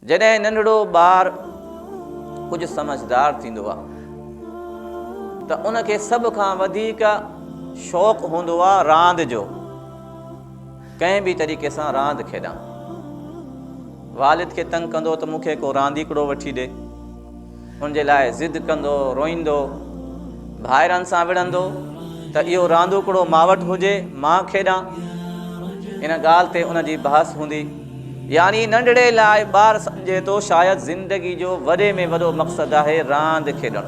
جڏهن ننڍڙو ٻار ڪجهه سمجهدار ٿيندو آهي ته ان کي سڀ کان وڌيڪ شوق هوندو آهي راند جو ڪنهن به طريقي سان راند کيڏان والد کي تنگ ڪندو ته مون کي ڪو رانديڪڙو وٺي ڏي ان جي لاء ضد ڪندو، روئيندو، ڀائرن سان وڙهندو ته اهو راندوڪڙو مان وٽ هجي، مان کيڏان. ان ڳالهه تي ان جي بحث هوندي. يعني ننڍڙي لاء ٻار سمجهي ٿو شايد زندگي جو وڏي ۾ وڏو مقصد آهي راند کيڏڻ.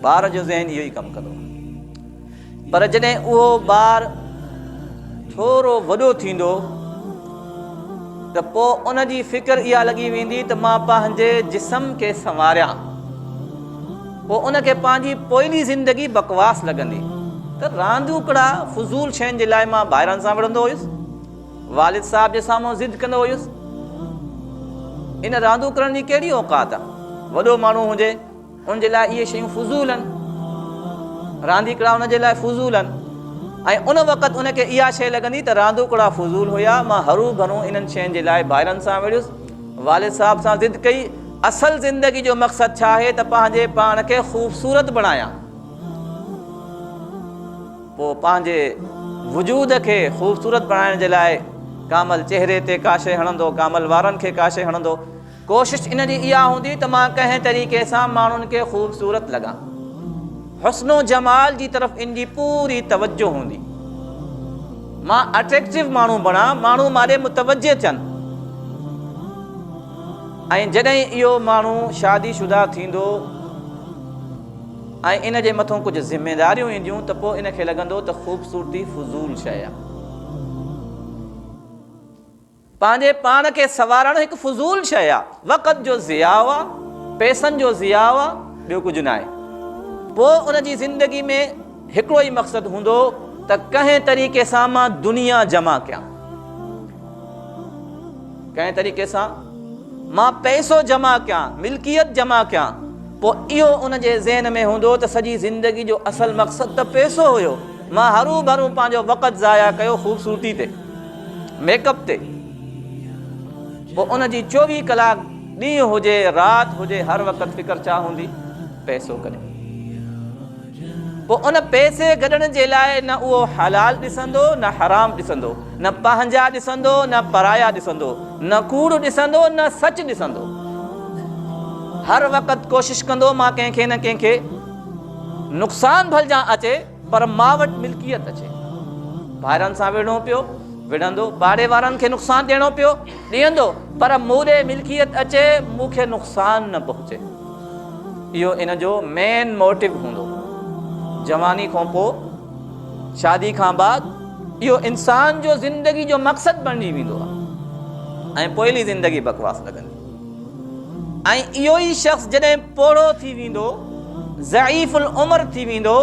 ٻار جو ذهن اهو ئي ڪم ڪندو. پر جڏهن اهو ٻار ٿورو وڏو ٿيندو ته پوء ان جي فڪر اها لڳي ويندي ته مان پنهنجي جسم کي سنواريان. پوء ان کي پنهنجي پوئلي زندگي بڪواس لڳندي ته راندوڪڙا فضول شين جي لاء مان ڀائرن سان وڙهندو هيس، والد صاحب جي سامهون ضد ڪندو هيس. ان راندوڪڙن جي ڪهڙي اوقات آ؟ وڏو ماڻهو هجي ان جي لاء اهي شيون فضول آهن. رانديڪڙا ان جي لاء فضول آهن ۽ ان وقت ان کي اها شيء لڳندي ته راندوڪڙا فضول هيا، مان هروڀرو انهن شين جي لاء ڀائرن سان وڙهيس، والد صاحب سان ضد ڪئي، اصل زندگي جو مقصد ڇا آهي ته پنهنجي پاڻ کي خوبصورت بڻايان، پوء پنهنجي وجود کي خوبصورت بڻائڻ جي لاء ڪامل چهري تي ڪا شيء هڻندو، ڪامل وارن کي ڪا شيء هڻندو. ڪوشش ان جي اها هوندي ته مان ڪنهن طريقي سان ماڻهن کي خوبصورت لڳان. حسن و جمال جي طرف ان جي پوري توجه هوندي. مان اٽريڪٽو ماڻهو بڻان، ماڻهو مان ڏي متوجه ٿين ۽ جڏهن اهو ماڻهو شادي شده ٿيندو ۽ ان جي مٿو ڪجهه ذميداريون اينديون ته پوء ان کي لڳندو ته خوبصورتي فضول شيء آهي. پنهنجي پاڻ کي سنوارڻ هڪ فضول شيء آ، وقت جو ضياع آ، پئسن جو ضياع آ، ٻيو ڪجهه ناهي. پوء ان جي زندگي ۾ هڪڙو ئي مقصد هوندو ته ڪنهن طريقي سان مان دنيا جمع ڪيان. ڪنهن طريقي سان مان پئسو جمع ڪيان، ملڪيت جمع ڪيان. پوء اهو ان جي ذهن ۾ هوندو ته سڄي زندگي جو اصل مقصد ته پئسو هيو، مان هروڀرو پنهنجو وقت ضايع ڪيو خوبصورتي تي. ميڪ اپ تي پوء ان جي چوويهه ڪلاڪ ڏينهن هجي رات هجي هر وقت فڪر ڇا هوندي پئسو ڪڏهن پوء ان پئسي گڏڻ جي لاء نه اهو حلال ڏسندو نه حرام ڏسندو نه پنهنجا ڏسندو نه پرايا ڏسندو نه ڪوڙ ڏسندو نه سچ ڏسندو هر وقت ڪوشش ڪندو مان ڪنهن کي نه ڪنهن کي نقصان ڀلجان اچي پر مان وٽ ملڪيت اچي ڀائرن سان وڙهڻو پيو، وڙهندو، ٻاري وارن کي نقصان ڏيڻو پيو، ڏيندو، پر مون ڏي ملڪيت اچي مون کي نقصان نه پهچي. اهو ان جو مين موٽو هوندو. جواني کان پوء، شادي کان بعد اهو انسان جو زندگي جو مقصد بڻجي ويندو آهي ۽ پوئلي زندگي بڪواس لڳندي. ۽ اهو ئي شخص جڏهن پوڙهو ٿي ويندو، ضعيف العمر ٿي ويندو،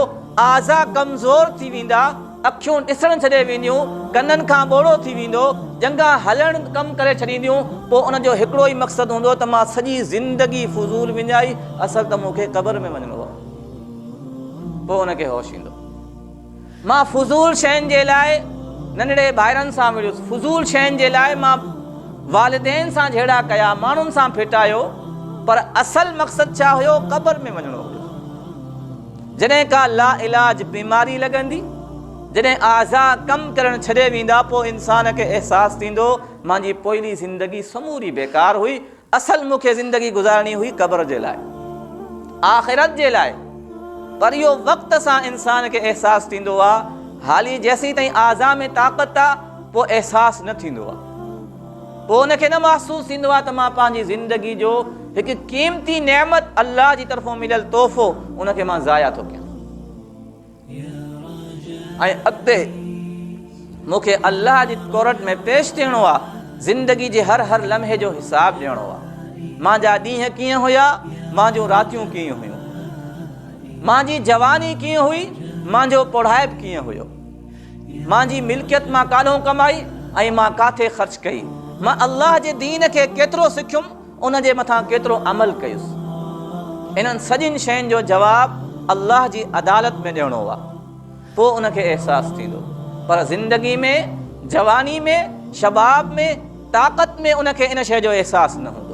اعضا ڪمزور ٿي ويندا، اکيون ڏسڻ ڇڏي وينديون، ڪنن کان ٻوڙو ٿي ويندو، ڄنگهان هلڻ ڪم ڪري ڇڏينديون، پوء ان جو هڪڙو ئي مقصد هوندو ته مان سڄي زندگي فضول وڃائي، اصل ته مون کي قبر ۾ وڃڻو آهي. پوء ان کي هوش ايندو. مان فضول شين جي لاء ننڍڙي ڀائرن سان وڙهيس، فضول شين جي لاء مان والدين سان جهيڙا ڪيا، ماڻهن سان ڦٽايو، پر اصل مقصد ڇا هيو؟ قبر ۾ وڃڻو هيو. جڏهن ڪا لاعلاج بيماري لڳندي، جڏهن اعضاء ڪم ڪرڻ ڇڏي ويندا، پوء انسان کي احساس ٿيندو، مانجي پوئلي زندگي سموري بيڪار هئي، اصل مون کي زندگي گذارڻي هئي قبر جي لاء، آخرت جي لاء، پر اهو وقت سان انسان کي احساس ٿيندو آ، حالي جيسين تائين اعضاء ۾ طاقت آ، پوء احساس نه ٿيندو آ. پوء ان کي نه محسوس ٿيندو آ ته مان پنهنجي زندگي جو هڪ قيمتي نعمت، الله جي طرفون مليل تحفو، ان کي مان ضايع ٿو ڪيان. ۽ اڳتي مون کي الله جي ڪورٽ ۾ پيش ٿيڻو آ زندگي جي هر هر لمحي جو حساب ڏيڻو آ مان جا ڏينهن ڪيئن هيا مان جون راتيون ڪيئن هيون مان جي جواني ڪيئن هئي مان جو پڙهائپ ڪيئن هيو مان جي ملڪيت مان ڪالهون ڪمائي ۽ مان ڪاٿي خرچ ڪئي مان الله جي دين کي ڪيترو سکيم ان جي مٿان ڪيترو عمل ڪيس. انهن سڄين شين جو جواب الله جي عدالت ۾ ڏيڻو آ. پوء ان کي احساس ٿيندو. پر زندگي ۾ جواني ۾، شباب ۾، طاقت ۾ ان کي ان شيء جو احساس نه هوندو.